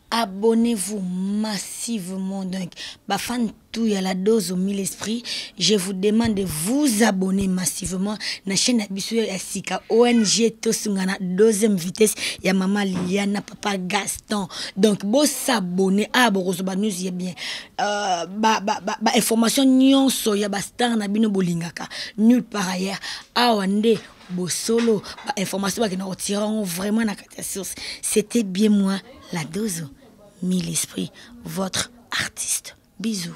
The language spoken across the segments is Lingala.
abonnez-vous massivement donc bafan tout ya la dose au mille esprit je vous demande de vous abonner massivement na chaîne ya biso ya sika ong tosungana deuxième vitesse ya mama liliana papa gaston donc bosabone awa ah, bokozwa banews ya bien euh, bainformation ba, ba nyonso ya bastar na bino bolingaka nulle par ailleurs awa nde bosolo bainformation bakenda kotira yango vraiment na kati ya source c'était bien moi la dozo mille esprit votre artiste bisous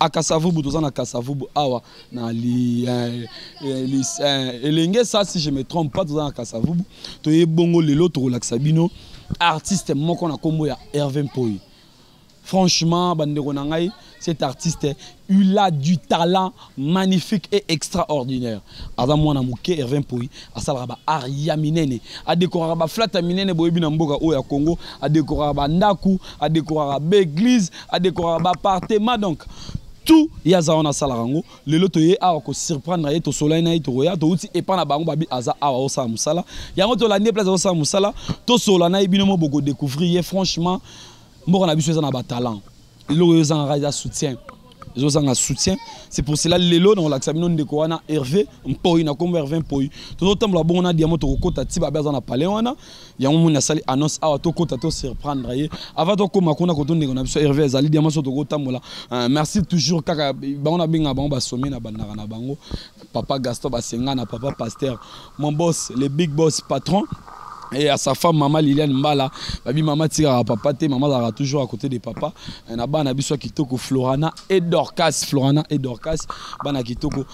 akasavubu toza na kasavubu awa na li, eh, eh, li, eh, elenge sa si je me trompe pas toza na kasavubu toye bongo lelo tokolakisa bino artiste moko na nkombo ya herve mpoi franchement bandeko na ngai cet artiste il a du talent magnifique et extraordinaire aza mwana moke herve mpoi asalaka baart ya minene adekoraka baflate ya minene boyebi na mboka oyo ya congo adekoraka bandako adekoraka baeglise adekoraka baapartement donc tout ye aza wana asalaka yango lelo toye awa kosurprendre ye tosolani na ye tokoya touti epai na bango babi aza awa osala mosala yango tolandi ye place azosala mosala tosola na ye bino mo bokodecouvrir ye franchement mboka na biso eza na batalent eloko eyo ezangaka eza soutien ezozanga soutien c'est pour cela lelo nakolakisa bino ndeko wana herve mpoi na nkombo herve mpoi tozotambola bongo na diamant tokokota ti babe aza na palais wana yango moni asali annonce awa tokota to surprendre ye avant tokóma kuna koto ndeko na biso herve azali diama so tokotambola euh, merci toujours kaka bango nabengaka bango basome na bandaka na bango papa gaston basenga na papa pasteur mon boss le big boss patron et à sa femme maman Liliane Mbala babi maman tira papa te maman zara toujours à côté de papa na bana biso kitoko Florana et Dorcas Florana et Dorcas bana kitoko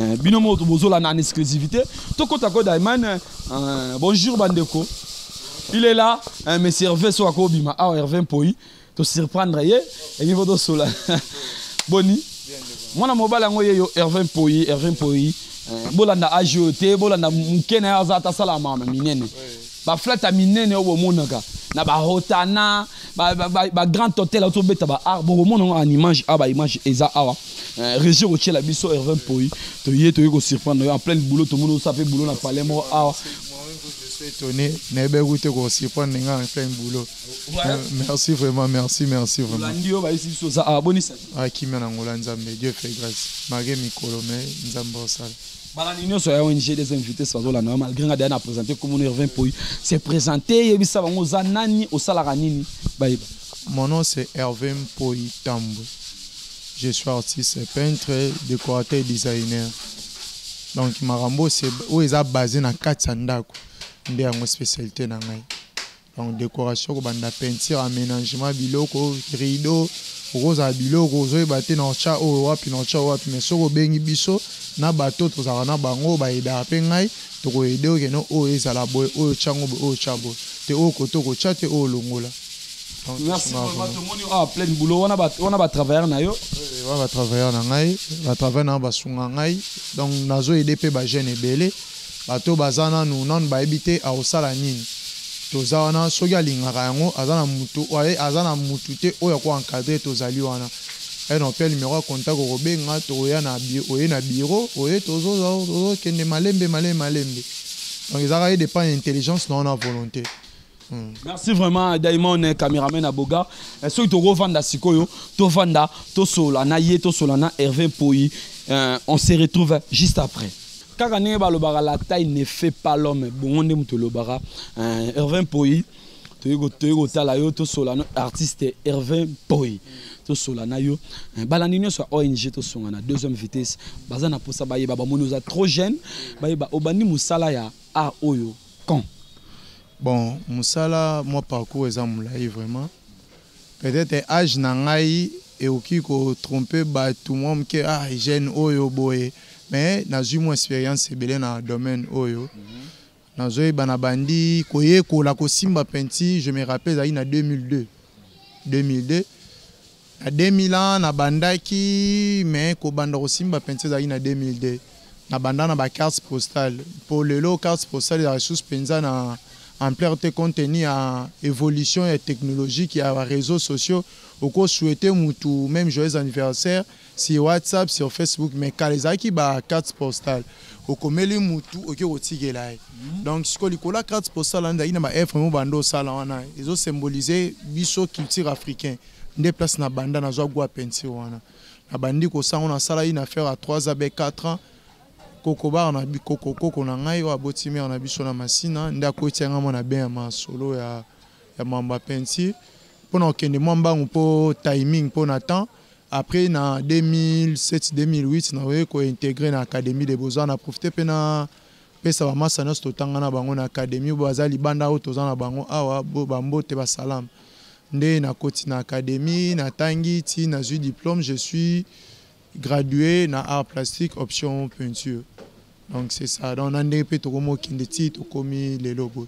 Eh, bino moto bozolanda en exclusivité tokota ko daiman eh, bonjour bandeko il est là eh, monsieur herve so akobima awa ah, herve mpoi tosurprendre ye ebi po tosola boni mwana mobali yango ye yo herve mpoi herve mpoi bolanda age oyo te bolanda moke na ye aza ata asala mama minene baflate ya minene oyo bomonaka na bahotana bagrand hotel aotobeta baar bokomona yango en image awa baimage eza awa Eh, régie kotyela biso herve mpoi toye toye kosurprendre yo en pleine boulot tomoni osala mpe boulot na palais moko awa étonné nayebi kutu te kosurprendre nga en pleine boulot eh, merci vraiment merci merci vraimentolandi yo bayisi biso oza awa bonisa akimia ah, na ngola nzambe dieu fait grâce malgré mikolo mais nzambe osala balandi nyonso ya ong des invités bazolanda yo malgré nga deya na présente komona herve mpoi se présente yebisa bango oza nani osalaka nini bayeba mon nom c'est herve mpoi tambwe Je suis artiste, peintre, décorateur et designer. Donc makambo oyo eza basé na kati ya ndako nde yango spécialité na ngai. Donc décoration kobanda peinture, aménagement biloko, rideau, okozala biloko ozoyeba te na otya oyo wapi na otya wapi mais soki obengi biso na bato tozalaka na bango bayedaka mpe ngai tokoyede okende oyo ezala boye oyo tyango boye oyo tya boye te oyo kote okotya te oyo longola merci vraiment tomoni ah plein boulot wana ba wana ba travailleur na yo eh, wana ba travailleur na ngai ba travailleur na ba sunga ngai donc nazo aider pe ba jeunes ebele bato baza nanu nanu bayebi te akosala nini toza wana soki alingaka yango aza na mutu oye aza na mutu te oyo ako encadre tozali wana eh, non pe numero ya contact okobenga tokoya na oye na biro oye tozokende malembe malembe malembe donc ezaka ye dépend ya intelligence na wana volonté Hmm. merci vraiment daimon eh, cameraman ya boga eh, soki tokovanda sikoyo tovanda tosola na ye tosola na herve mpoi eh, on se retrouve juste après kaka ndenge balobaka la taille ne fait pas l'homme bongo nde moto olobaka herve mpoi toyei kotala yo tosola no artiste herve mpoi tosola na yo eh, balandi nyonso ya ong tosonga na deuxième vitesse baza na mposa bayeba bamoni oza trop jeune bayeba obandi mosala ya art oyo quand bon musala moi parcours eza mulayi vraiment peut-être âge na ngai ekoki kotrompe bato mwa moke ah jeune oyo boye mais nazwi mwa expérience ebele na domaine oyo mhm. nazoyeba na bandi koyekola kosimba penti je me rappelle ezalaki na 2002 2002 Na 2000 ans na bandaki mais kobanda kosimba penza ezalaki na 2002. Na banda na ba cartes postales mpo lelo cartes postales ezalaka lisusu penza na ampleur te compte tenu ya evolution ya technologique ya ba reseaux sociaux. Oko souhaiter mutu meme joyeux anniversaire sur WhatsApp, sur Facebook mais kala ezalaki ba cartes postales. Okomeli mutu oke kotikela ye. Donc sikoyo likolo ya cartes postales wana ezalaki na ba œuvres mibale nde osala wana ezo symboliser biso culture africain. nde place na banda nazwa gwa pensi wana na bandi kosango nasala une affaire à 3 ans be 4 ans kokobaka na bikoko koko na ngai oyo aboti mare na biso na masina nde akotia ngai mwana be ya masolo ya, ya mamba pensi mpo na kokende mwa mbangu mpo timing mpo na temps après na 2007 2008 nakoki kointegre na académie de beaux-arts na profite mpe na pesa bamasa nyonso totanga na bango na académie oyo baza libanda oyo toza na bango awa bambote basalama Nde na koti na academie na tangi ti na zui diplome je suis gradué na art plastique option peinture donc c'est ça donc na ndenge pe tokomo kende ti tokomi lelo boye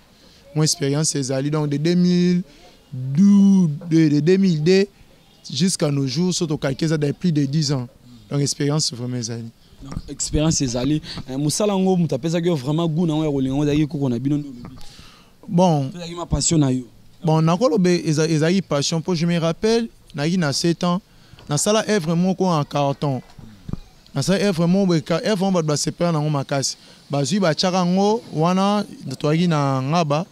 mon expérience ezali donc de 2000 de, de 2002 jusqu'à nos jours so tokalki eza de plus de 10 ans donc expérience vraiment ezali expérience ezali eh, mosala yango moto apesaki yo vraiment goût na yango ya kolinga yango ezalaki koko na bino nde olobi bon ezalaki ma passion na yo bon nakolobe ezalaki passion mpo je me rappelle nayaki na 7 ans nasala œuvre moko en carton nasala œuvre moko œuvre moko bato basepela nango makasi bazwi batyaka yango wana toyaki na ngaba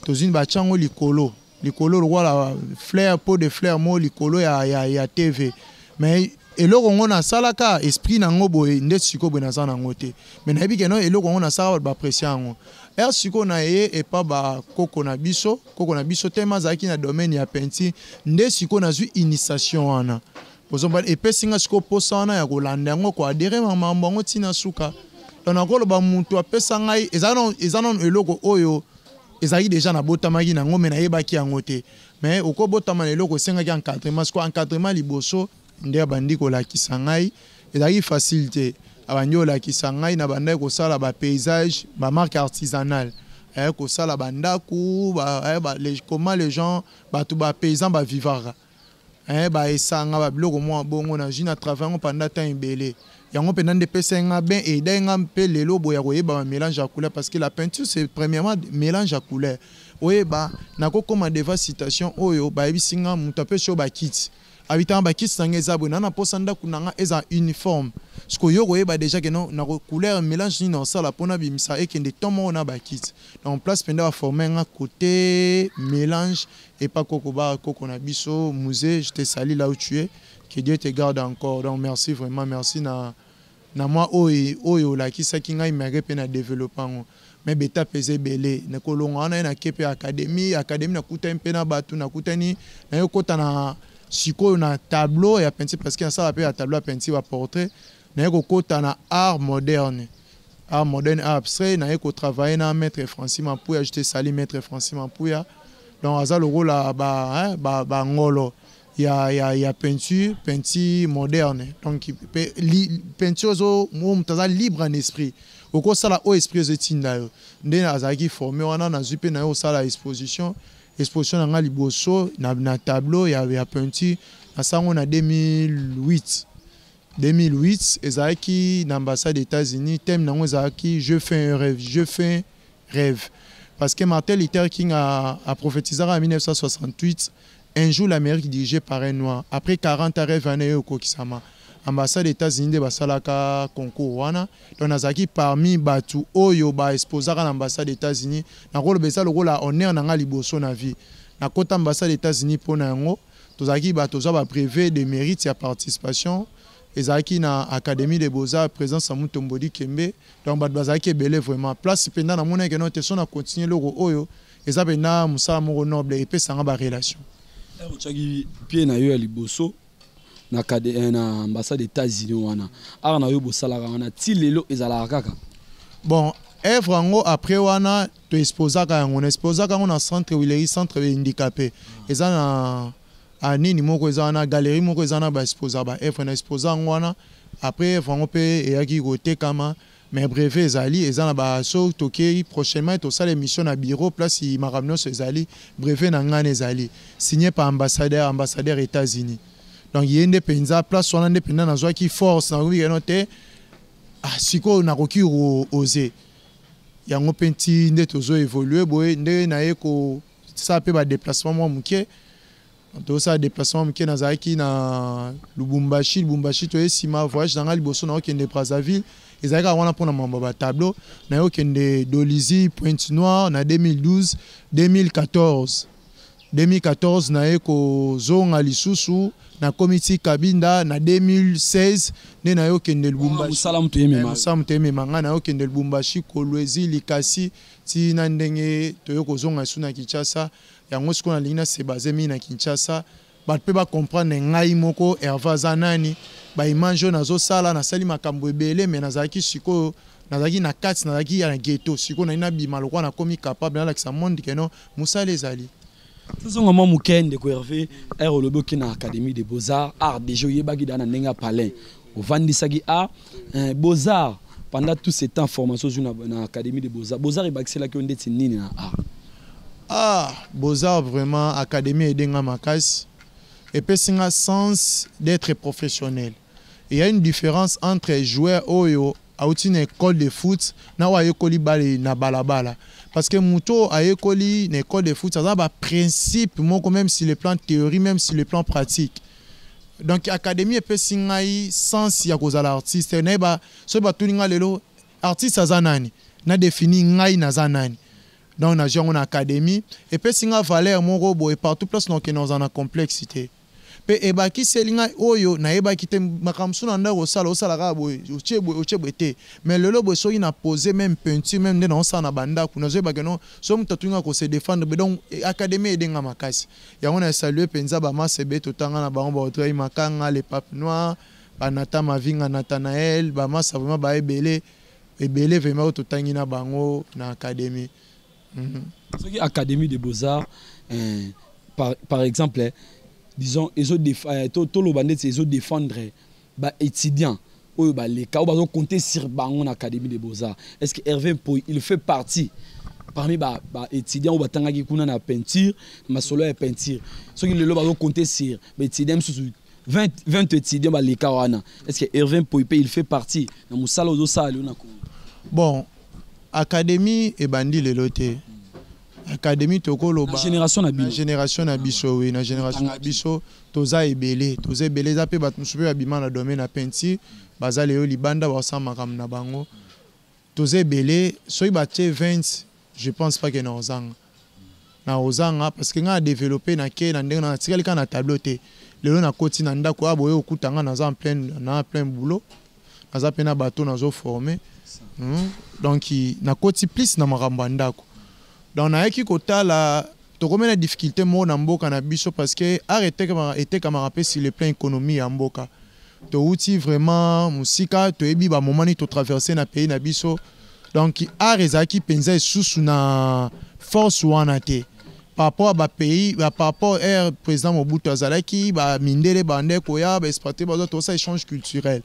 tozwi batya yango likolo likolo lokola fleur po de fleur moko likolo ya, ya, ya tv mais eloko ngo nasalaka esprit nango boye nde sikoyo boye naza nango te mais nayebi keno eloko yango nasalaka bato bapressie yango ere sikoyo na eye epa bakoko na biso koko na biso teme azalaki na domaine ya peinture nde sikoyo nazwi initiation wana ozomba epesi nga sikoyo mposa wana ya kolanda yango koadere mamambo yango ntina suka donc nakoloba motu apesa ngai eza nano eloko oyo ezalaki deja nabotamaki nango me nayebaki yango te Mais oko botama na eloko esengaki encadrement, siko encadrement liboso nde abandi kolakisa ngai, ezalaki facile te, abandi kolakisa ngai, nabandaki kosala ba paysages, ba marques artisanales, eh, kosala ba ndaku, ba, eh, ba, les, comment les gens, batu ba paysans ba vivaka, eh, ba esanga, ba biloko mwa bongo, na jina travail yango pendant temps ebele, yango mpenza nde epesaki nga ben eidaki nga mpe lelo boye ya koyeba ba mélange ya couleur parce que la peinture c'est premièrement mélange ya couleur oyeba nakokoma devant citation oyo bayebisi nga moto apesi yo bakiti abitanga bakiti na nga eza boye na na mposa ndako na nga eza uniforme sikoyo yo koyeba déjà ke non na couleur mélange nini osala mpo nabimisa ekende to moko na bakiti donc place mpenza baforme nga cote mélange epa koko ba koko na biso musée je te sali là où tu es Que Dieu te garde encore. Donc merci vraiment, merci na na mwa oyo oyo olakisaki ngai meke mpe na develope yango me betape eza ebele nakolonga wana ye nake mpe akademi akademi nakutani mpe na bato nakutani naye okota na sikoyo na tableau ya peinture parce que nasala mpe ya tableau ya peinture ya portrait naye kokota na art moderne art moderne art abstrait naye kotravaille na maître francis mampuya jete sali maître francis mampuya donc aza lokola bangolo ba, hein, ba, ba ya, ya, ya peinture peinture moderne donc pe, li, peinture ozo moto aza libre en esprit okosala oyo esprit ezo etinda yo nde azalaki forme wana nazwi mpe na yo osala exposition exposition na ngai liboso na, na tableau ya, ya peinture na sango na 2008 2008 ezalaki na ambassade états-unis thème na yango ezalaki je fais un rêve je fais rêve parce que martin luther king aprophétisaka na 1968 Un jour l'Amerique dirigee par un noir après 40 ans reve wana ekokisama ambassade Etats-Unis nde basalaka concours wana donc nazalaki parmi batu oyo ba exposaka na ambassade Etats-Unis nakoloba eza lokola honneur na nga liboso na vie nakota ambassade Etats-Unis mpo na yango tozalaki ba tozwa ba brevet de mérite ya participation ezalaki na académie de beaux-arts présence ya Mutombo Dikembe donc bato bazalaki ebele vraiment place mpenza namonaki no te so na continuer eloko oyo eza pena musala moko noble epesanga ba relation otyaki pie na yo ya liboso na kade eh, na ambassade états-unis wana art na yo bosalaka wana ti lelo ezalaka kaka bon œuvre yango après wana toexposaka yango na exposaka yango na centre wileri centre handicapé eza na ah, nini moko eza wana galerie moko eza na baexposa baœuvre na exposa yango wana après œuvre yango mpe eyaki kotekama Mais brevet ezali eza na ba so tokeyi prochainement tosala émission na bureau place makambo nyonso ezali brevet na ngana ezali signé par ambassadeur ambassadeur États-Unis donc ye nde mpenza place wana nde mpenza nazwaki force nakoki keno te ah, sikoyo nakoki oze yango mpe nti nde tozo évolue boye nde naye kosala mpe badeplacement mwa moke tosala déplacement moke nazalaki na lubumbashi lubumbashi toye nsima voyage na ngai liboso naokende brazzaville ezalaki kaka wana mpo na mambo ya batableau naye okende dolisie pointe noire na 2012 2014 2014 naye kozonga lisusu nakomi ti kabinda na 2016 nde naye okende lubumbasala moto emema ngai naye okende lubumbashi kolwezi likasi ntina ndenge toye kozonga esu na kinshasa Yango sikoyo nalingi na se baser mingi na Kinshasa, bato mpe ba comprendre ngai moko Herve aza nani, ba images oyo nazosala nasali makambo ebele mais nazalaki sikoyo nazalaki na kati nazalaki ya na ghetto sikoyo nalingi nabima lokola nakomi capable nalakisa monde que non mosala ezali tozonga mwa moke ndeko herve ere olobi oke na académie de beaux-arts art déjà oyebaki daa na ndenge ya palin ovandisaki a eh, beaux-arts pendant tout ce temps formation ozwi na académie de beaux-arts beaux-arts ebakiselaki yo ndeti nini na art ah beaux-arts vraiment académie aide nga makasi epesi nga sens d'être professionnel il y a une différence entre joueur oyo awuti na ecole de foot na oyo ayekoli bale na balabala parce que moto oyo ayekoli na ecole de foot aza na baprincipe moko même sur le plan théorie même sur le plan pratique donc académie epesi ngai sens ya kozala artiste nayeba soki batuni ngai lelo artiste aza nani na défini ngai naza nani donc nazwi yango na académie epesi ngai valeur moko boye partout place nokende ozala na complexe te Mpe ebakiseli ngai oyo nayebaki te, makambo mosusu na ndako osala, osala kaka boye, otie boye, otie boye te. Mais lelo boye soki na pose meme peinture meme nde naosala na ba ndako, nazoyeba que non, soki moto atuni nga ko se defendre boye. Donc academie aide nga makasi. Yango na saluer penza ba Mars ebele totanga na bango, ba Audrey Makanga, le Pape Noir, ba Nathan Mavinga, Nathanael, ba Mars vraiment baye ebele, ebele vraiment oyo totangi na bango na academie. Mhm. soki académie de beaux-arts euh, par, par exemple eh, disons ezo euh, to, toloba ndeti ezo défendre eh, ba étudiants oyo baleka oyo bazo compter sur bango na académie de beaux-arts est ce que hervé mpoy il fait partie parmi ba, ba étudiants oyo batangaki kuna na peinture masolo ya peinture soki lelo bazo compter sur ba étudiants mosusu 20, 20 étudiants baleka wana est ce que Irvin Poipe il fait partie na mosala ozosala lelo na Congo bon académie ebandi lelo te académie tokoloba génération na biso génération na biso oui na génération na biso toza ebele toza ebele eza mpe bato mosusu mpe babima na domaine ya peinture baza lelo libanda basala makambo na bango Toza ebele soki ba tie 20 je pense pas que na ozanga na ozanga parce que nga na developpe na ke na ndenge na tikali ka na tableau te lelo na koti na ndako a boye okuta nga naza en plein na plein boulot naza pe na bateau nazo former hmm? donc na koti plus na makambo ya ndako donc nayaki kotala Tokomi na difficulte moko na mboka na biso parce que art etekamaka etekamaka mpe sur le plan economie ya mboka. Towuti vraiment mosika, toyebi ba moments nini to traverser na pays na biso. Donc art ezalaki mpenza esusu na force wana te par rapport à ba pays, par rapport à président Mobutu azalaki ba mindele bande koya ba expatriés bazo to sa échange culturel.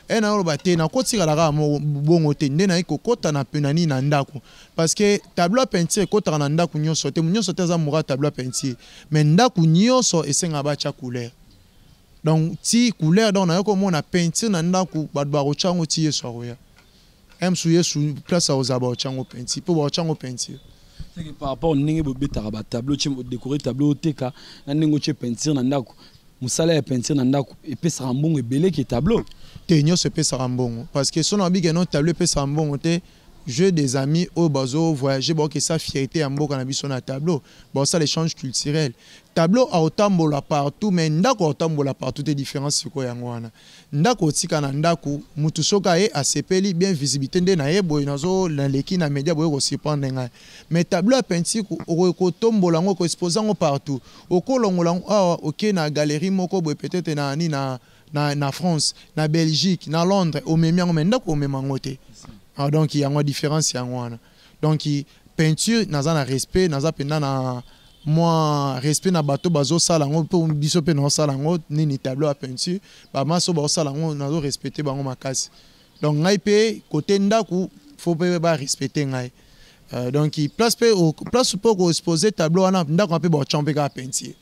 Et na oloba te na kotikala kaka bongo te nde na kokota na penani na ndako. Parce que tableau ya peinture ekotaka na ndako nyonso te, nyonso te aza mura ya tableau ya peinture. Mais ndako nyonso esengaka batya couleur. Donc ti couleur donc nayoki komona peinture na ndako bato bakotya yango ti Yesu akoya. Eme su Yesu place akozala bakotya yango peinture mpo bakotya yango peinture. Seke par rapport ndenge bobetaka ba tableau tye odekore tableau oteka na ndenge otye peinture na ndako mosala ya peinture na ndako epesaka mbongo ebele ke tableau te nyonso epesaka mbongo parce que soki nabike no tableau epesaka mbongo te Jeux des amis oyo bazo voyager bao kesa fierte ya mboka na biso na tableau bao sala echange culturel tableau ako tambola partout mais ndaku ako tambola partout te difference sikoyo yango wana ndaku otika na ndaku mutu soki aye asepeli bien visibilite nde naye boye nazo naleki na media boye ko surprendre ngai mais tableau ya peinture okoki kotombola yango ko exposer yango partout okolongola yango awa oke na galerie moko boye peut-être na nini na na, na France, na Belgique, na Londres, omemi yango mais ndako omema yango te. Ah, donc yango différence yango wana. Donc peinture naza na respect, naza penda na moi respect na bato bazo sala yango mpo biso mpe nao sala yango nini tableau ya peinture bamaso bao sala yango nazo respecte bango makasi donc ngai mpe kote ndako fo mpe ba respecte ngai euh, donc place mpe place mpe okoexpose tableau wana ndako mpe baotya mpe kaka peinture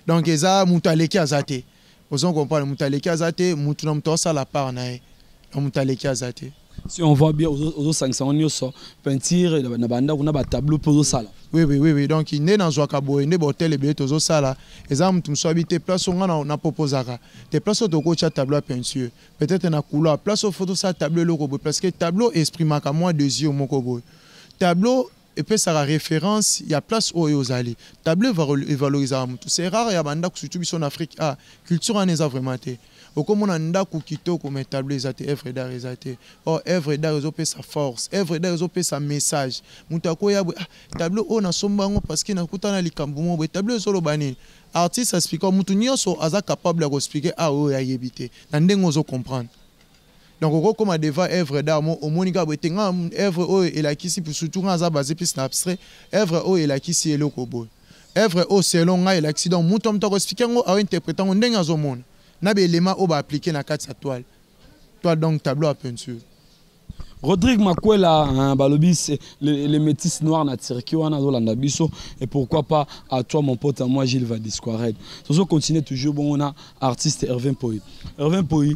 donc eza moto aleki aza te Ozo ko comprendre mutu aleki aza te, mutu na mutu asala part na ye. Na mutu aleki aza te. Si on voit bien ozo sangisa ngo nioso peinture na banda kuna ba tableau pe ozo sala. Oui oui oui oui donc nde na zwa ka boye nde ba hotel ebele tozo sala eza mutu musu abi te place nga na, na proposaka te place to ko tia tableau ya peinture peut-être na couloir place photo sa tableau loko boye parce que tableau exprimaka moi désir moko boye tableau epesaka reference ya place oyo ozali table evalorisaka mutu c'est rare ya bandako surtout biso na afrique a ah, culture wana eza vraiment te okomona ndako kitoko mais table eza te œuvre d'art eza te or œuvre d'art ezopesa force œuvre d'art ezopesa message moto akoya boye ah, table oyo nasomba yango parce que nakuta na likambo moko boye table ezoloba nini artiste asplika motu nyonso aza capable ya koexplike a ah, oyo ayebi te na ndenge ozo comprendre Donc oko koma devant œuvre d'art mo omoni kaka boye te nga œuvre oyo elakisi pour surtout nga aza base plus na abstrait œuvre oyo elakisi eloko boye œuvre oyo selon nga elakisi donc moto moto ako expliquer yango ao interprète yango ndenge azo mona na ba éléments oyo ba appliquer na kati ya toile toile donc tableau à peinture Rodrigue Makwela hein, balobi c'est le, le métis noir na Turquie wana azolanda biso et pourquoi pas à toi mon pote à moi Gilles Vadisquared. Tozo continuer toujours bon on a artiste Hervé Mpoyi Hervé Mpoyi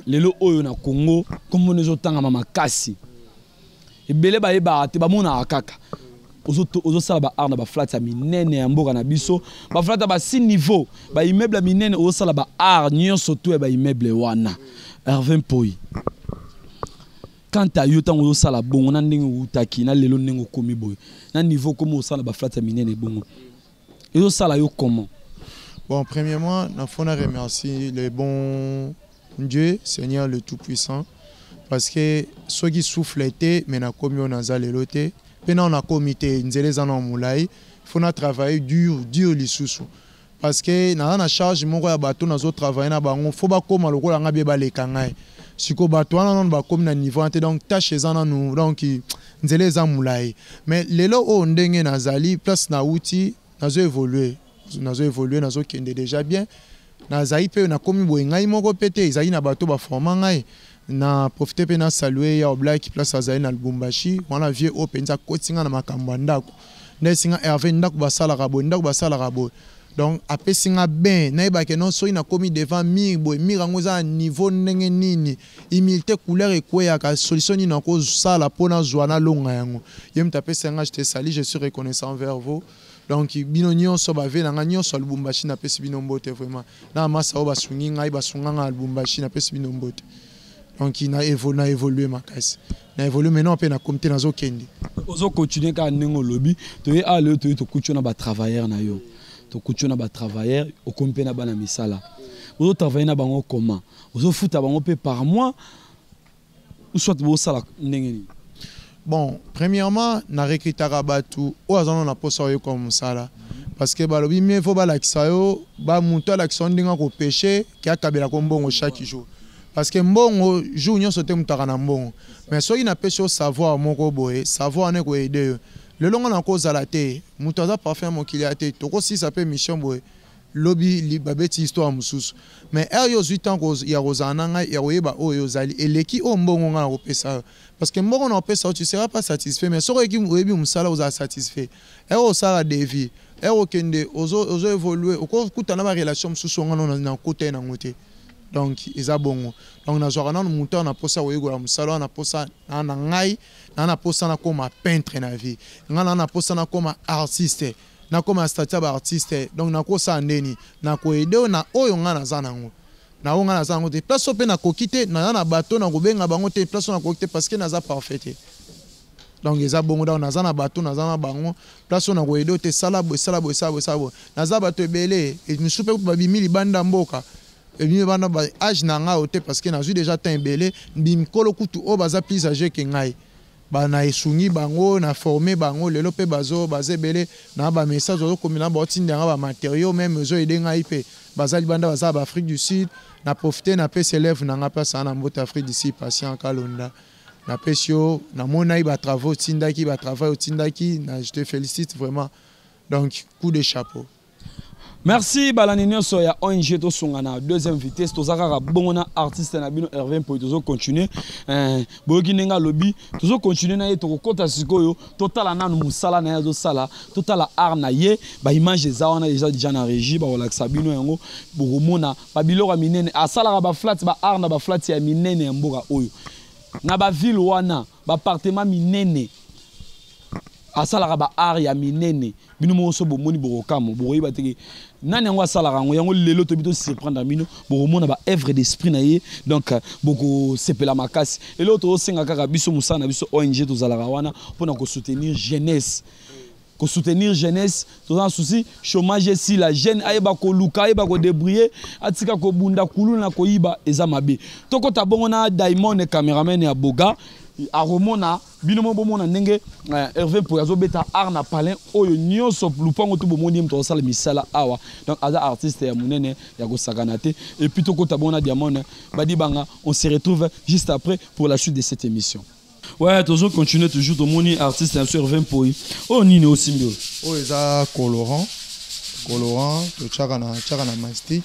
lelo oyo na Congo kombo nezo tangama makasi ebele bayebaka te bamonaka kaka ozosala ba art na baflate ya minene ya mboka na biso baflate ya basi niveau baimmeuble ya minene ozosala ba art nyonso to ya baimmeuble wana herve mpoi kanta yo ntango ozosala bongo na ndenge outaki na lelo ndenge okomi boye na niveau okomi osala baflate ya minene bongo ezo sala yo comment bon premièrement na fona remercie le bon Dieu Seigneur le tout puissant parce que soki souffle était mais na komi on aza lelo te pe na on a komi te nzela eza na mulai faut na travailler dur dur lisusu parce que naza na charge moko ya bato nazo travaille na bango fo bakóma lokola ngai bie baleka ngai sikoyo bato wana nano bakómi na niveau wana te donc tâche eza nanu donc nzela eza mulayi mais lelo oyo ndenge nazali place na wuti nazo évoluer nazo évoluer nazo kende déjà bien nazali pe nakomi boye ngai moko pe te ezali na bato ba forma ngai na profite pe na salue ya Oblak place azali na Lubumbashi wana vieux oyo penza akoti ngai na makambo ya ndako nde singa Hervé ndako basalaka boye ndako basalaka boye donc apesi ngai bain nayebake non soki nakomi devant mur boye mur yango eza na niveau ndenge nini humilite couleur ekweyaka solution nini nakosala mpo nazwa nalonga yango ye moto apesa yanga je te sali je suis reconnaissant envers vous donc bino nyonso bave na ngai nyonso ya lubumbashi napesi bino mbote vraiment na masa oyo basungi ngai basunga ngai ya lubumbashi napesi bino mbote donc na evo na évoluer makasi na évoluer maintenant mpe na comité nazokende ozo continuer kaka ndenge olobi toye awa lelo toye tokuti yo na batravailleur na yo tokuti yo na batravailleur okomi mpe na bana misala ozo travailler na bango comment ozo futa bango pe par mois ou soit bo sala ndenge nini bon premièrement na recrutaka bato oyo aza nano na mposa oyo ekoma mosala parce que balobi mie fo balakisa yo ba moto alakisa yo ndenge akopeche ke akabela ko mbongo chaque jour parce que mbongo jour nyonso te motaka na mbongo mais soki napesi yo savoir moko boye savoir wana ekoede yo lelo nga nakozala te moto aza parfum ya mokili ya te tokosisa mpe mission boye lobi babeti histoire mususu mais heure yo ozui temps ya kozala na ngai ya koyeba oyo yo ozali eleki oyo mbongo ngai nakopesa yo parce que mbongo nakopesa yo tu seras pas satisfait mais soki oyeki oyebi mosala ozala satisfait heure osala devis heure okende ozo, ozo évoluer okokuta na barelation mosusu onga no nakota ye nango te donc eza bongo donc nazwaka nano moto awa na mposa koyekola mosala wana na mposa na na ngai naa na mposa nakoma peintre na vie ngai naa na mposa nakoma artiste nakoma na statut ya ba artiste donc nakosala ndeni nakoede oyo na oyo ngai naza nango na oyo ngai naza nango te place oyo mpe nakoki te naza na bato nakobenga bango te place oyo nakoki te parce que naza parfait te donc eza bongo donc naza na bato naza na bango place oyo nakoede oyo te sala boye sala boye sala boye sala boye naza bato ebele misusu mpe babimi libanda mboka ebimi bana ba age na ngai oyo te parce que nazwi déjà temps ebele mikolo kutu oyo baza plus age ke ngai ba na esungi bango na former bango lelo pe bazo baza ebele na ba message bazo komela na baoti ndanga ba materiaux meme ezo aide ngai pe baza libanda baza ba Afrique du Sud na profiter na pesi élève na ngai place na mbote Afrique du Sud patient kalonda na pesi yo na monaki ba travaux otindaki ba travail otindaki na je te félicite vraiment donc coup de chapeau merci balandi nyonso ya ong tosunga na deuxième vitesse toza kaka bongo na artiste na bino herve mpoi tozo continue eh, boyoki ndenge alobi tozo continue na ye tokokɔta sikoyo totala nanu mosala na ye azosala totala art na ye baimage eza wana eza deja na régie bakolakisa bino yango bokomona babiloko ya minene asalaka baflate ba art na baflate ya minene ya mboka oyo na bavile wana bapartema minene asalaka ba art ya minene bino moko so bomoni bokokamwa bokoyeba te nani yango asalaka yango yango lelo toyebi tosurprendre bino bokomona baœuvre d'esprit na ye donc euh, bokosepela makasi eloko tozosenga kaka biso mosala na biso ong tozalaka wana mpo na kosoutenir jeunesse kosoutenir jeunesse toza na souci chômage esila jeune ayeba koluka ayeba kodebriller atika kobunda kuluna na koyiba eza mabe tokota bongo na diamond cameraman ya boga akomona bino moko bomona ndenge eh, herve mpoy azobeta art na palin oyo nyonso lupango to bomoni ye moto akosala misala awa donc aza artiste ya monene ya kosakana te epuis tokota bongo na diamond eh, badibanga on se retrouve juste après pour la suite de cette émission ouais tozo continuer toujours tomoni artiste ya biso herve mpoy oyo oh, nini osimbi oyo oyo eza colorant colorant totyaka na tyaka na mastic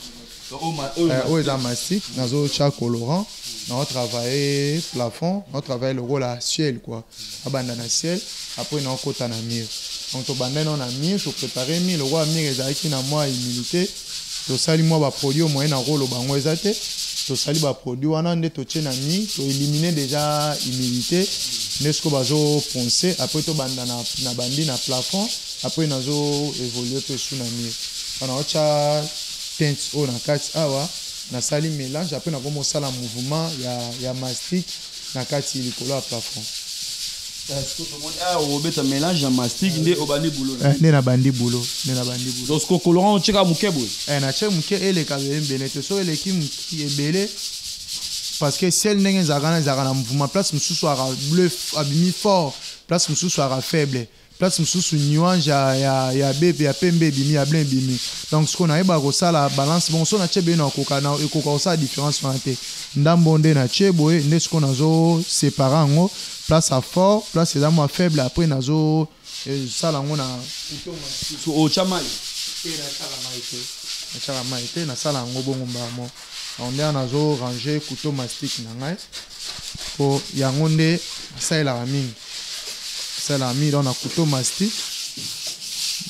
oyo eza mastic nazotya colorant nao travaille plafond nao travaille lokola ciel kua abanda na ciel apres naokota na mur donc tobandai nao na mur toprépare mur lokola mur ezalaki na mwa humilité tosali mwa baproduit oyo moyen nakoloba yango eza te tosali baproduit wana nde totie na mur toélimine déjà humilité nde sikoyo bazoponse apres tobanda na bandi na plafond apres nazo évolue mpe su na mur wana otya teintes oyo na kati awa nasali melange apres nakomi osala mouvement ya, ya mastic na kati likolo ya plafond eh, obeta melange ya mastic nde obandi bulo eh, nde nabandi bulo nde nabandi bulo donc kokoloran otyeka moke boye eh, natye moke eleka ebele te so eleki ebele parce que sel ndenge ezalaka na ezalaka na mouvement place mosusu aka bleu abimi fort place mosusu aka faible place mosusu nuange ya, ya, ya, be, ya pembe ebimi ya blanc ebimi donc sikoyo nayebaka kosala balance bongo so natye bino nakoka na, ekoka kosala différence wana te ndambo nde natye boye nde sikoyo nazosepare yango place ya fort place eza mwa faible après nazosala eh, yango na otya mai te natyaka mai te nasala yango bongo mbala moko yango nde wana nazo range couteau mastic na ngai mpo yango nde asalelaka mingi asalelaka mingi donc na couteau mastic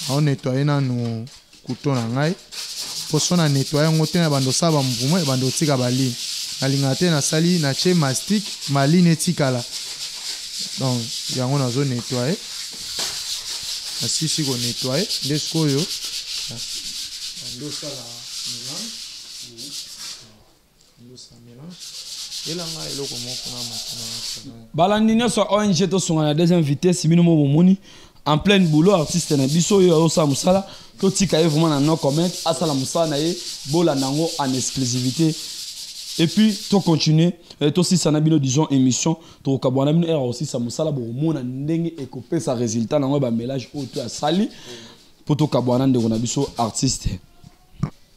nao nettoye nanu couteau na ngai mpo so na nettoye yango te na bando osala bamvuma ebando otika baline nalingaka te nasali natye mastic maline etikala donc yango nazo nettoye nasisi konettoye nde sikoyo nde osala balandi nyonso ya ong tosunga na deuxième vitesse bino mo bomoni en pleine boulot artiste na biso oyo azosala mosala totika ye vraiment na no comment asala mosala na ye bolanda yango en exclusivité et puis tocontinue eh, tosisa na bino disons émission tokokabwa na bino ere kosisa mosala bokomona ndenge ekopesa résultat na yango ya bamelage oyo to asali mpo tokabwa na ndeko na biso artiste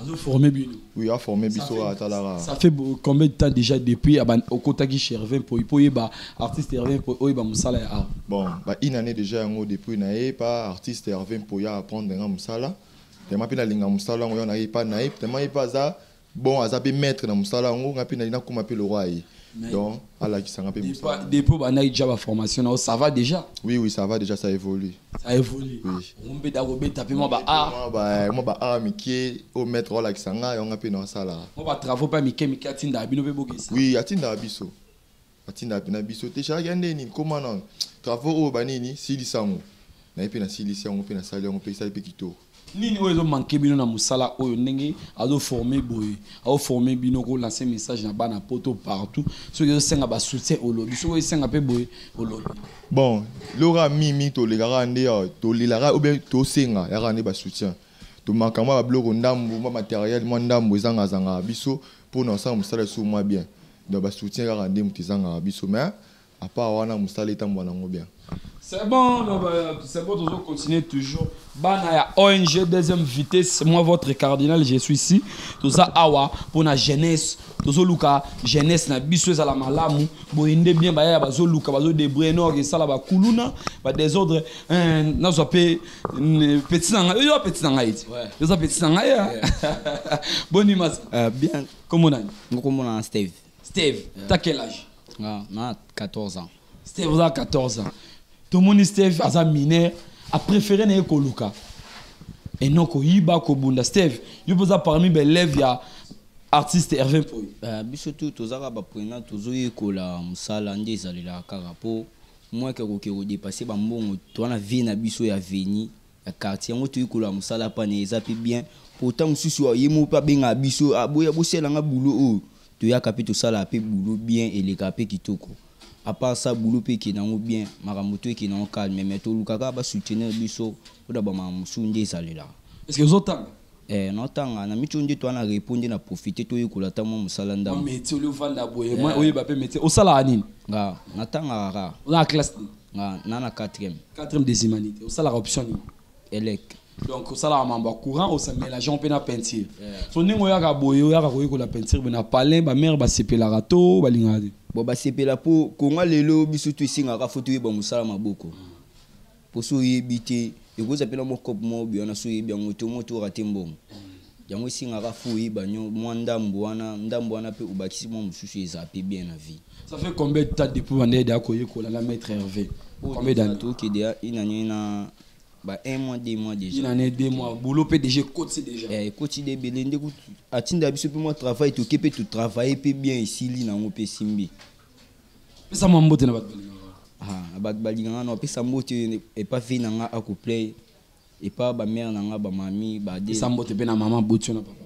azo former bino oui a former biso atalaka ça fait combien de temps déjà depuis aban okotaki chez Hervé Mpoyi po yeba artiste Hervé Mpoyi oyo ba musala ya art bon ba une année déjà yango depuis na ye pa artiste Hervé Mpoyi a apprendre nga musala tellement pe na linga musala yango na ye pa na ye tellement ye pa aza bon aza pe maître na musala yango nga pe na nakoma pe le roi ye donc alakisa nga mpe mosala depuis obandaki déjà baformation nao ça va déjà oui oui ça va déjà ça évolue ça évolue ombeda kobeta mpe mwa ba art mwa ba art mike oyo maître olakisa nga yango nga mpe naosala mwa ba travaux mpe mike mike atindaka bino mpe bokesa oui atindaka biso atindaka mpe na biso te charge ya nde nini koma na travaux oyo banini silisa yango naye mpe nasilisi yango mpe nasali yango mpe esali mpe kitoko nini oyo ezo manke bino na musala oyo ndenge azo forme boye azo forme bino ko lance message na bana poto partout soki ezosenga ba soutien olobi soki esenga pe boye olobi bon lora mimi tolekaka nde euh, tolelaka ou bien tosenga yaka nde ba soutien tomaka mwa babiloko ndambu mwa materiel mwa ndambu ezangazangaka biso mpo na kosala mosala lisusu mwa bien donc basoutien kaka nde moto ezangaka biso mais A part wana musala etambwa nango bien. C'est bon, non, bah, c'est bon, toujours continuer toujours. Bana ya ONG deuxième vitesse, moi votre cardinal, je suis ici. Tout ça awa pour la jeunesse, tout ça luka jeunesse na biso ezala malamu, boyende bien baya bazo luka bazo débrouiller non que ça là ba kuluna, ba désordre, hein, na zo pe petit nanga, yo petit nanga iti. Yo petit nanga ya. Bonne image. Euh, bien. Comment on a? Comment on a Steve? steve ta quel âge nga na 14 ans steve oza 14 ans tomoni steve aza mineur apréféré na ye koluka eno koyiba kobunda steve yo mpe oza parmi baelève ya artiste herve mpoyo Eh, biso tu tozaka baprenat tozoyekola mosala nde ezalelaka kaka mpo mwake akoki kodepasse bambongo toa na vie na biso ya veni ya quartier yango toyei koloba mosala pana eza mpe bien mpo ntango mosusu ye moko mpe abengaka biso ah, boya bosala nga bulo oyo oh. toyaka mpe tosalaka mpe bulo bien elekaka mpe kitoko apart ça bulo mpe ekende yango bien makambo to ekende yango calme mais tolukaka basoutenir biso mpo na bamakambo mosusu nde ezalelaka Eh, naotanga na micho nde toana repo nde na profite toyekola ata mwa mosala ndambo meti oli ovanda boye mwa oyeba mpe meti osalaka nini nga natangaka kaka oza na classe nini nga na na quatrième quatrième des humanités osalaka option nini elec donc osalaka mambo ya courant osa mélangeant mpe na peinture so ndenge oyaka boye oyaka koyekola peinture boye na palin bamare basepelaka to balingaka te bon basepela mpo konga lelo biso to esengaka fo toyeba mosala maboko poso oyebi te ekozala mpe na mwa cope moko boye wana so oyebi yango te omo tora te mbongo yango esengaka fo oyeba nyo mwa ndambo wana ndambo wana mpe obakisi mwa mosusu ezala mpe bien na vie ça fait combien de temps depuis bandede akoyekola na maître herve combien d'années tokede ya une année na ba un mois deux mois déjà une année deux mois boulot mpe déjà ekoti déjà eh, ekoti de ebele nde atinda biso mpe mwa travail toke mpe totravaille mpe bien esili nango mpe esimbi pesa mwa mbote na bato balingaka bato balingaka na opesa mbote epa vie na nga akuplay epa bamare na nga bamami badesa mbote mpe na mama botio na papa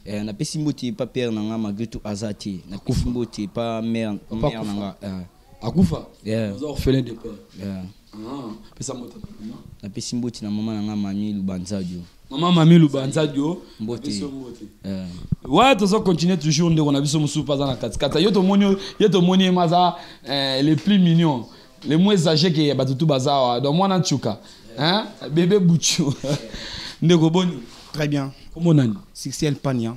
eh, napesi mbote epa pere na nga malgré tout aza te napesi mbote epa mare na nga eh. akufa oza orphelin de père Ah, pesa mbote na mama. Napesi mbote na mama na nga Mami Lubanzadio. Mama Mami Lubanzadio. Mbote. Napesi mbote. Eh. Ouais, tozo continuer toujours ndeko na biso mususu pas na kati kati. Yo to moni yo to moni maza eh, les plus mignons, les moins âgés que batutu bazawa. Donc mwana chuka. Hein? Bébé Bouchou. Ndeko boni. Très bien. Comment on a Succès Pania.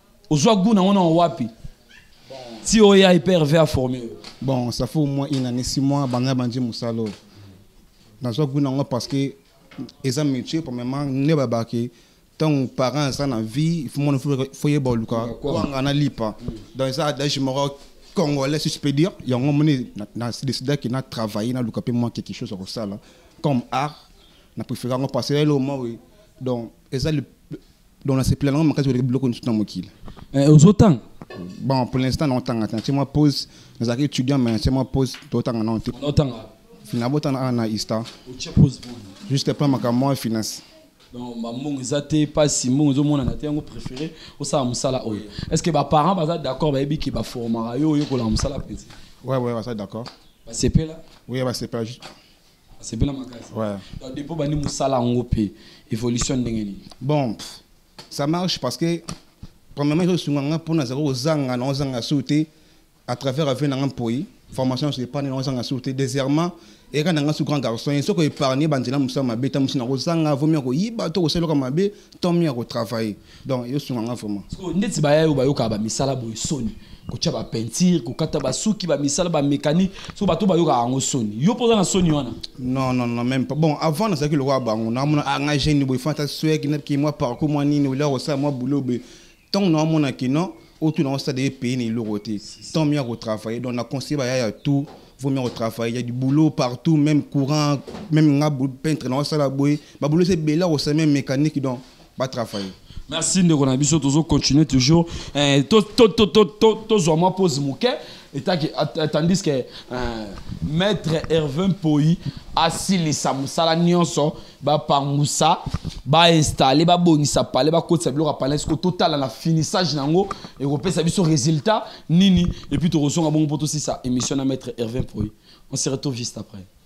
ozwa goût nango nango wapi ti oya hyperve aforme yo bon ça faut moi une année six mois banda bandi mosala oyo nazwa goût nango parce que eza métier premièrement nde babaki ntango parent aza na vie mwana fo yeba oluka kwanga na lipa donc eza adage moko congolais si je peux dire yango moni na décidaki na travailler naluka mpe mwa quelque chose ya kosala comme art na préfère yango parce que eloo mwa oyo donc eza donc nasepela nango makasi koleka biloko nyonso na mokili eh, ozotanga bon pour l'instant naotanga te natie mwa pose nazalaki étudiant mais natie mwa pose totanga nao te naotanga finabotana awa na ista juste plan makambo mwa finance donc mbongo eza te mpasi mbongo ezomonana te yango préféré osala mosala oyo est ce que baparent baza d'accord bayebi ke baformaka yo oyekolaka mosala mpenza ouais ouais baza d'accord basepela oui basepela juste asepela makasi ouais. donc depuis obandi mosala yango mpe évolution ndenge nini bon ça marche parce que premièrement ezosunga nga mpo nazali kozanga na ozanga sur te à travers avenue na nga mpoi formation nyonso epargne na ozanga sur te deuxièmement eka na nga su grand garçon ye soko épargne banzela mosala mabe ta mosi na kozanga vomi ya koyiba to kosala eloko mabe to mi ya kotravaille donc yo sunga nga vraiment sikoyo ndeti baya yo bayokaka bamisala boye soni kotya bapeinture kokata basuki bamisala bamécanique so bato bayokaka yango soni yo mpo oza na soni wana non non non même pas bon avant nazalaki lokola bango naamona ah, nga jeune boye fanta sweki naki mwa parcours mwa nini olia kosala mwa boulot boye ntango naamona kino otu nango stade epaye na eloko te tant mieux ya kotravaille donc na conseille baya ya tout vaut mieux kotravaille ya du boulot partout même courant même nga peintre na osala boye baboulot eza ebele akosala même mécanique donc ba travailler merci ndeko na biso tozo continuer toujours eh, to to to to to tozwa mwa pose moke etaki tandis que euh, maître herve mpoi asilisa mosala nyonso bapangusa bainstalle babongisa pale bakotisa biloko ya pale siko totala na finissage na yango ekopesa biso résultat nini epuis tokozonga bongo mpo tosisa émission na maître herve mpoi on se retrouve juste après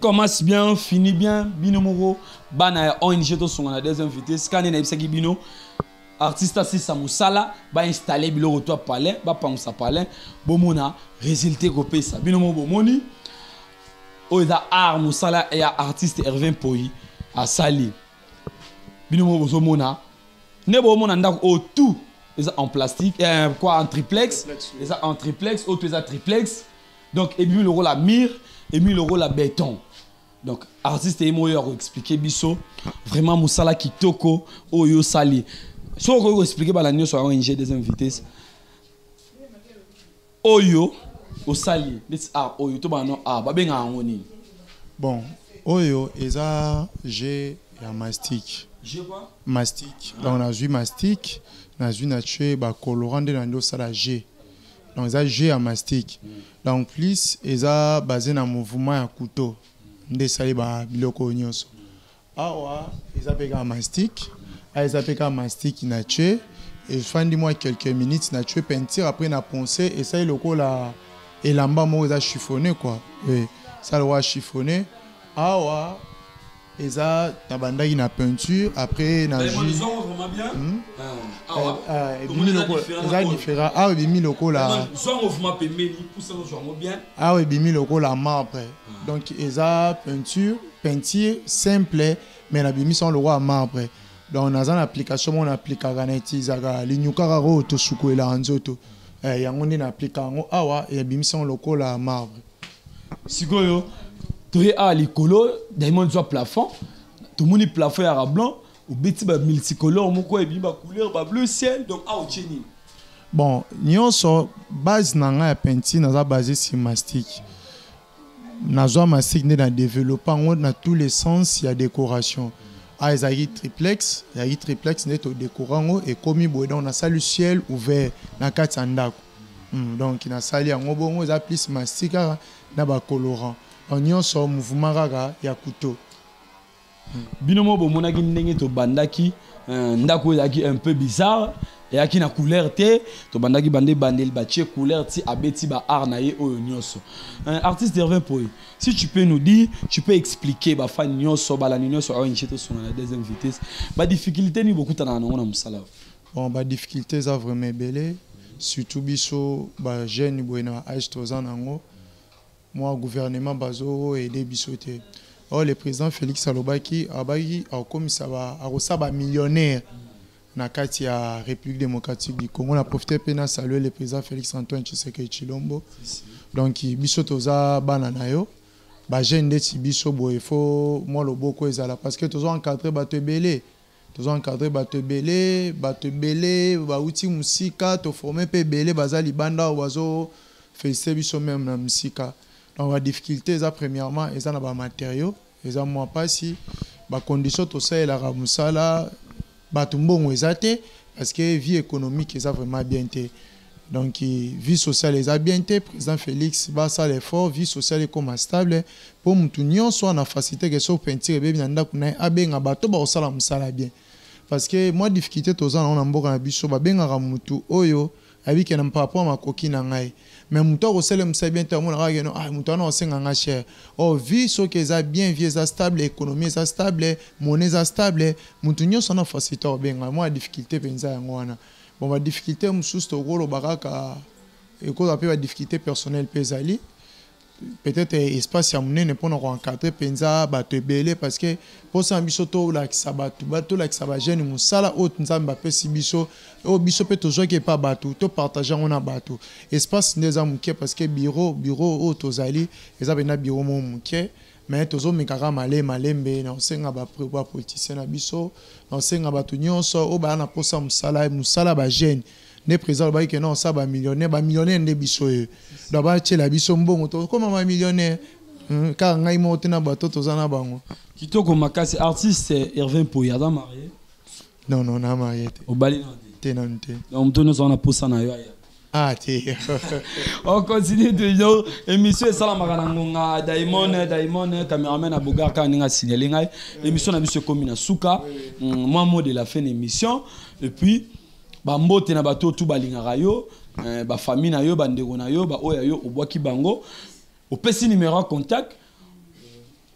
commence bien fini bien bino moko bana ya ong tosonga na deuxième vitesse kani nayebisaki bino artiste asisa mosala bainstalle biloko to ya palin bapangusa palin bomona résultat ekopesa bino moko bomoni oyo eza art mosala ya artiste hervin poi asali bino moko bozomona nde bomona ndako oyo tout eza en plastique eh, quoi en triplex eza en triplex oyo to eza triplex donc ebimi lokola mire ebimi lokola beton donc artiste ye moko oyo akoexplike biso vraiment mosala kitoko oyo osali soki okoki koexplike bana nyonso yango inge deuxième vitesse oyo osali neti art oyo to bana art babengaka yango nini bon oyo eza je ya mastique mastique donc nazwi mastique nazwi na tue bacolorant nde na nde osala je donc eza jeu ya mastic donc plus eza base na mouvement ya couteau nde esali babiloko oyo nyonso awa eza mpe kaka mastic awa eza mpe kaka mastic na tue efandi mwa quelques minutes na tue peinture après na ponce esali lokola elamba moko eza chiffonne kua esali lokola chiffonne awa eza nabandaki na peinture après na eh, jus hmm? ah, ah, eh, ah, ebimi lokola eza différent awa ebimi lokola awa ebimi lokola marbre donc eza peinture peinture simple mais nabimisi yango lokola marbre donc naza na application moko na aplikaka na utilisaka linyukaka oyo tosukwelaka nzoto eh, yango nde na aplika yango awa ebimisi yango lokola marbre sikoyo toye awa likolo diamond zwa plafond tomoni plafond ya rablon obeti ba multicolore moko ebimi ba couleur ba bleu ciel donc awa otie nini bon nyonso base na ngai ya peinture naza base sur mastique nazwa mastique nde na développe yango na tous les sens ya décoration awa ah, ezalaki triplex ezalaki triplex nde todécora yango ekomi boye donc nasali ciel ouvert na kati ya ndako Hmm, donc nasali yango bongo eza plus masi kaka na bacolorant donc nyonso mouvement kaka ya couteau hmm. bino moko bomonaki ndenge tobandaki euh, ndako oyo ezalaki un peu bizarre eyaki na couleur te tobandaki bande ebandeli batie couleur ti abeti baart na ye oyo nyonso euh, artiste hervin poye si tu peux nous dire tu peux expliquer bafani nyonso balandi nyonso awa nche tosonga na deuxième vitesse badifficulté nini bokutana na yango na mosala Bon ba difficultés eza vraiment ebele surtout biso ba jeunes boye na age toza nango mwa gouvernement bazo aider biso te. Or oh, le président Félix alobaki abaki akomisa ba akosa ba millionnaires na kati ya République démocratique du Congo na profiter pe na saluer le président Félix Antoine Tshisekedi Chilombo. Donc biso toza bana na yo ba jeunes ndeti biso boye faut mwa loboko ezala parce que tozo encadrer bato ebele. tozo encadre bato ebele bato ebele bawuti mosika toforme mpe ebele baza libanda oyo bazo felicite biso meme na mosika donc badifficulté eza premièrement eza na bamateriaux eza mwa mpasi bacondition tosalelaka mosala bato mbongo eza te parce que vie économique eza vraiment bien te donc vie sociale eza bien te président félix basala effort vie sociale ekoma stable mpo motu nyonso ana facilité ke soki peinture ebebi na ndako na ye abenga bato bakosala mosala bien parce que mwa difficulté toza nango na mboka na biso babengaka motu oyo ayebi ke na mpapwa makoki na ngai mais motu akosala mosala bien te amonaka keno ah, motu wana akosenga ngai cher o oh, vie soki eza bien vie eza stable économie eza stable monnaie eza stable motu nyonso ana facilité akobenga mwa difficulté mpenza yango wana Bon ba difficultés mosusu tokoloba kaka ekozala mpe ba difficultés personnelles mpe ezali peut-être espace ya monene mpona koencadre mpenza bato ebele parce que mposa na biso tolakisa bato tolakisa bajeune mosala oyo nzambe apesi biso oyo biso mpe tozwaki epa bato topartage yango na bato espace nde eza moke parce que bureau bureau oyo tozali eza mpenza bureau moko moke Mais tozo meka kaka male malembe na osenga ba ba politiciens na biso na osenga bato nyonso oyo baya na posa musala musala ba jeunes nde président alobaki ke na osala ba millionnaire ba millionnaire nde biso ye donc batiela biso mbongo tokoma ba millionnaire hmm, kaka ngai moko te na bato toza na bango kitoko makasi artiste Irvin Poya aza marie Non, non, na marié te. Obali na te. Te na te. Donc mutu nyoso wana posa na yo aya. Ah te. On continue toujours. Émission esalamaka na ngonga Daimon Daimon cameraman na Bogar ka ninga signaler ngai. Émission na biso ekomi na suka. Mm, moi mot de la fin d'émission et puis ba mbote na bato tout balingaka yo, eh, ba famille na yo, ba ndeko na yo, ba oya yo obwaki bango. Opesi numéro contact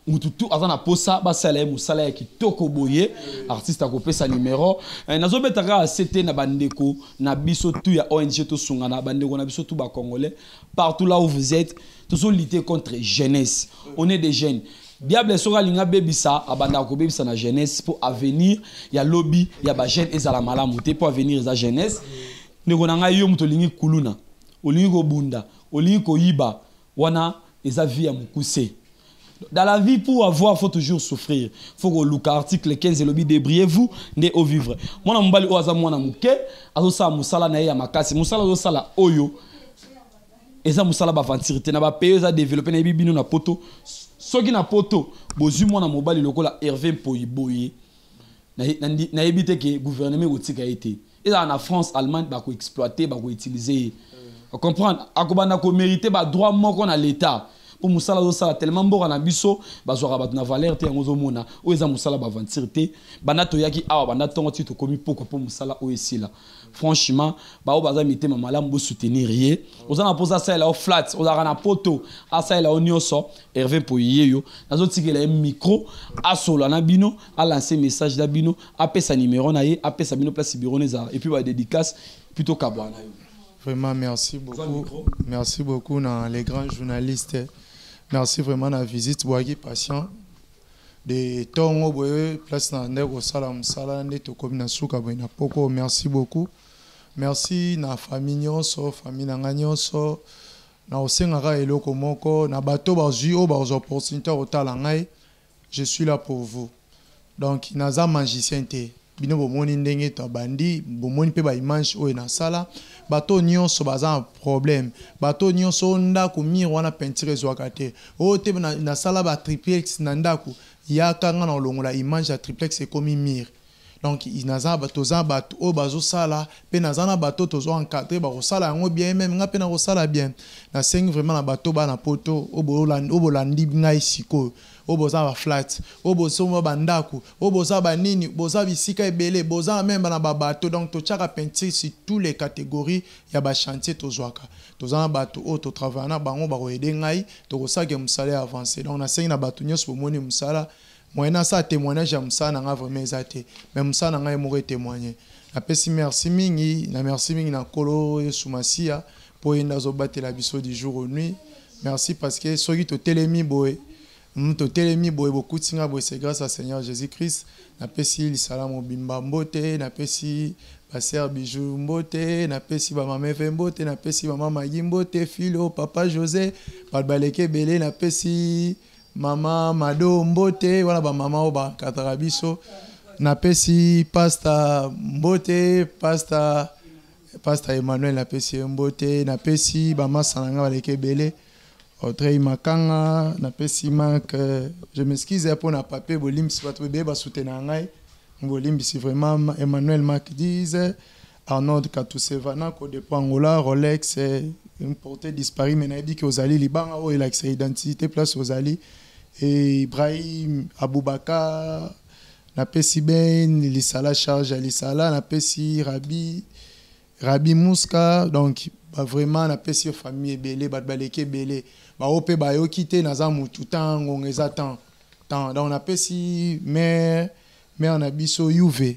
mutu tu aza na posa basala ye mosala ya kitoko boye artiste akopesa numero eh, nazobeta kaka se te na bandeko na biso tu ya ong tosungana bandeko na biso tu bacongolais partout là où vous êtes tozolite contre jeunesse on est des jeunes diable soki alingi abebisa abandaka kobebisa na jeunesse mpo avenir ya lobi ya bajeune ezala malamu te mpo avenir eza jeunesse ndeko na ngai yo moto olingi kuluna olingi kobunda olingi koyiba wana eza vie ya mukuse dans la vie pour avoir faut toujours souffrir faut koluka article 15 elobi débrouillez vous nde o vivre mwana mobali oyo aza mwana moke azosala mosala na ye ya makasi mosala azosala oyo eza mosala baventure te na bapaye eza développe nayebi bino na poto soki na poto bozwi mwana mobali lokola herve mpoi boye nayebi te ke gouvernement ekotika ye te ezala na france allemagne bakoexploite bakoutilize ye mm. comprendre akobanda komérite badroit moko na l'état mpo mosala azosala tellement mboka na biso bazwaka bato na valeur te yango ozomona oyo eza mosala baventure te banda toyaki awa banda ntongo ti tokomi pokwa mpo mosala oyo esila franchement baoyo baza mitema malamu bosoutenir ye oza na mposa asalela yo flat ozalaka na poto asalela yo nyonso herve mpoye yeyo nazotikela ye micro asolola na bino alanse message na bino apesa numero na ye apesa bino place bureau na ezala epuis badédicace puis tokabwana yo vraiment merci beaucoup merci beaucoup na les grands journalistes merci vraiment na visite boyaki patient de ntongo boye place na nde kosala mosala nde tokomi na suka boye na poko merci beaucoup merci na famille nyonso famille na ngai nyonso na osengaka eloko moko na bato bazwi oyo bazwa opportunité ya kotala ngai Je suis là pour vous donc naza magicien te bino bomoni ndenge to bandi bomoni pe ba image oyo na sala bato nyonso baza na problème bato nyonso ndako mire wana peinture ezwaka te oyo te na, na sala ba triplex na ndako yaka nga na olongola image ya triplex ekomi mire donc naza toza bato oyo bazosala mpe naza na bato tozo encadre bakosala yango bien meme ngai mpe nakosala bien nasengi vraiment na bato bana poto oyo bolandi ngai sikoyo oyo boza baflat oyo bosomba bandako oyo boza banini boza bisika ebele boza meme na babato donc totyaka peinture sur tous les catégories ya bachantier tozwaka toza na bato oyo totravaille na bango bakoyede ngai tokosake mosala ya avance donc nasengi na bato nyonso bomoni mosala Moyen na sa temoignage ya musala na nga vraiment eza te. Mais musala na nga ye moko e temoigner. Na pesi merci mingi, na merci mingi na kolo yesu masiya po ye nde azo batela biso du jour au nuit. Merci parce que soki to telemi boye, hum to telemi boye bo kuti nga boye c'est grace à seigneur jesus christ. Na pesi lisala mobimba mbote, na pesi ba sœur bijoux mbote, na pesi ba mama eve mbote, na pesi mama magi mbote, filo, papa jose, bato baleki ebele, na pesi Mama Mado mbote wana ba mama oyo bakataka biso napesi pasta mbote pasta pasta Emmanuel napesi ye mbote napesi bamasa na ngai baleki ebele Audrey Makanga napesi Marc euh, je m'excuse mpo na papier bolimbisi bato ebele basutena ngai bolimbisi vraiment Emmanuel Marc dise Arnold Katuseva na Codepo Angola Rolex une portée disparue mais nayebi ke ozali libanga oyo elakisa identité place ozali et Ibrahim Aboubakar napesi ben lisala charge ya lisala napesi Rabi Rabi Mouska donc ba vraiment napesi yo famille ebele bato baleki ebele baoyo mpe bayoki te naza mutu temps ngonga eza temps temps donc napesi mare mare na biso yuve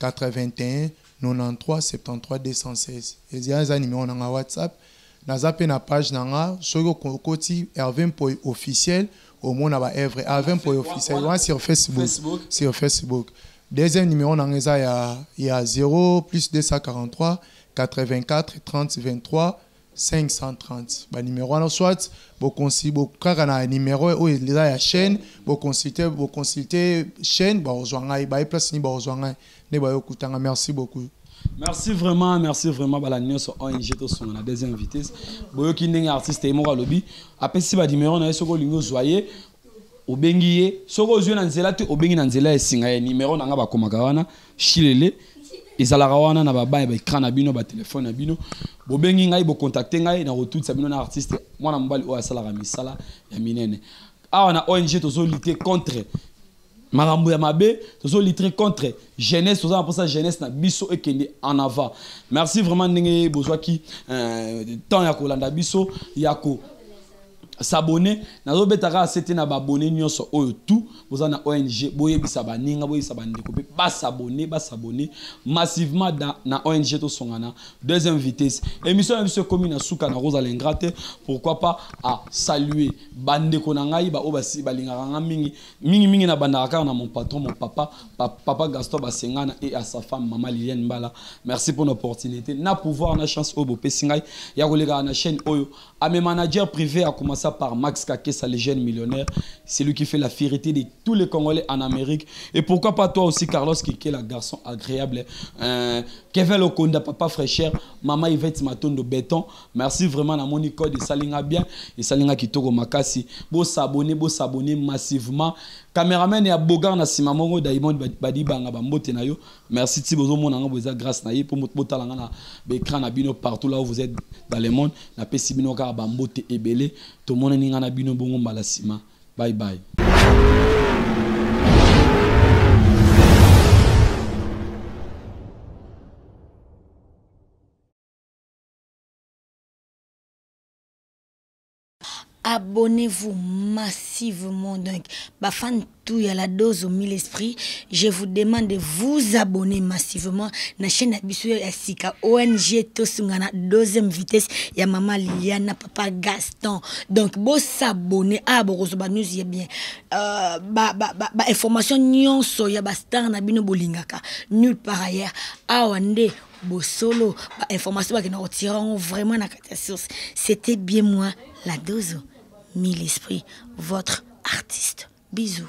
819173216 eza numero na nga whatsapp naza pe na page na nga soki okoti Herve Mpoy officiel omona ba œuvre Herve Mpoy officiel wana sur Facebook sur Facebook deuxième numero na nga eza ya ya 0 plus 243 84 30 23 530 ba numero wana soit bokonsi bokaka na numero oyo eza ya chaîne bokonsulte bokonsulte chaîne bakozwa ngai baye place nini bakozwa ngai nde bayokutanga merci beaucoup merci vraiment merci vraiment bala nyonso ong tosunga na deuxième vitesse boyoki ndenge artiste ye moko alobi apesi banimero na ye soki olingi ozwa ye obengi ye soki ozwi na nzela te obengi na nzela ya esinga ya nimero na ngai bakomaka wana shilele ezalaka wana na babaya baekran na bino batelefone na bino bobengi ngai bokontakte ngai na kotutisa bino na artiste mwana mobali oyo asalaka misala ya minene awa na ong tozolite contre makambo ya mabe tozolitre contre jeunesse toza na mposa jeunesse na biso ekende en avant merci vraiment ndenge bozwaki euh, temps ya kolanda biso ya ko s'abonner nazo beta kaka sete na babone nyonso oyo tout boza na ong boyebisa baninga boyebisa bandeko mpe basabone basabone massivement da, na ong tosongana deuxième vitesse émission na biso ekomi na suka na kozala ingra te pourquoi pas a saluer bandeko na ngai baoyo basi balingaka ngai mingi mingi mingi na bandaka kaka na mon patron mon papa pa, papa gaston basengana et à sa femme mama liliane mbala merci pour l'opportunité na pouvoir na chance oyo bopesi ngai ya kolekaka na chaîne oyo A mes managers privés à commencer par Max Kakessa, le jeune millionnaire, celui qui fait la fierté de tous les Congolais en Amérique. Et pourquoi pas toi aussi, Carlos Kikela, garçon agréable. Euh, Kevin Lokonda, papa fraîcheur, maman Yvette Matondo Béton. Merci vraiment à mon code, et salinga bien, et salinga kitoko makasi. Bo s'abonner, bo s'abonner massivement. Caméraman et à Bogar na Simamongo, Daimond Badibanga, Bambote na yo. Merci Tibo zo mona ngabo eza grâce na ye po moto botala nga na ba écran na bino partout là où vous êtes dans le monde na pesi bino kaka ba mbote ebele to mona ni nga na bino bongo mbala sima bye bye abonnez-vous massivement donc ba fan tout ya la dose au mille esprit je vous demande de vous abonner massivement na chaîne ya biso ya sika ONG tosunga na deuxième vitesse ya maman Liliana papa Gaston donc bo s'abonner ah bokozoba news ya bien euh, ba, ba, ba, ba information nyonso ya ba star na bino bolingaka nulle part ailleurs awa nde bosolo ba information bakenda kotira yango vraiment na kati ya source c'était bien moi la dozo mille esprit votre artiste bisous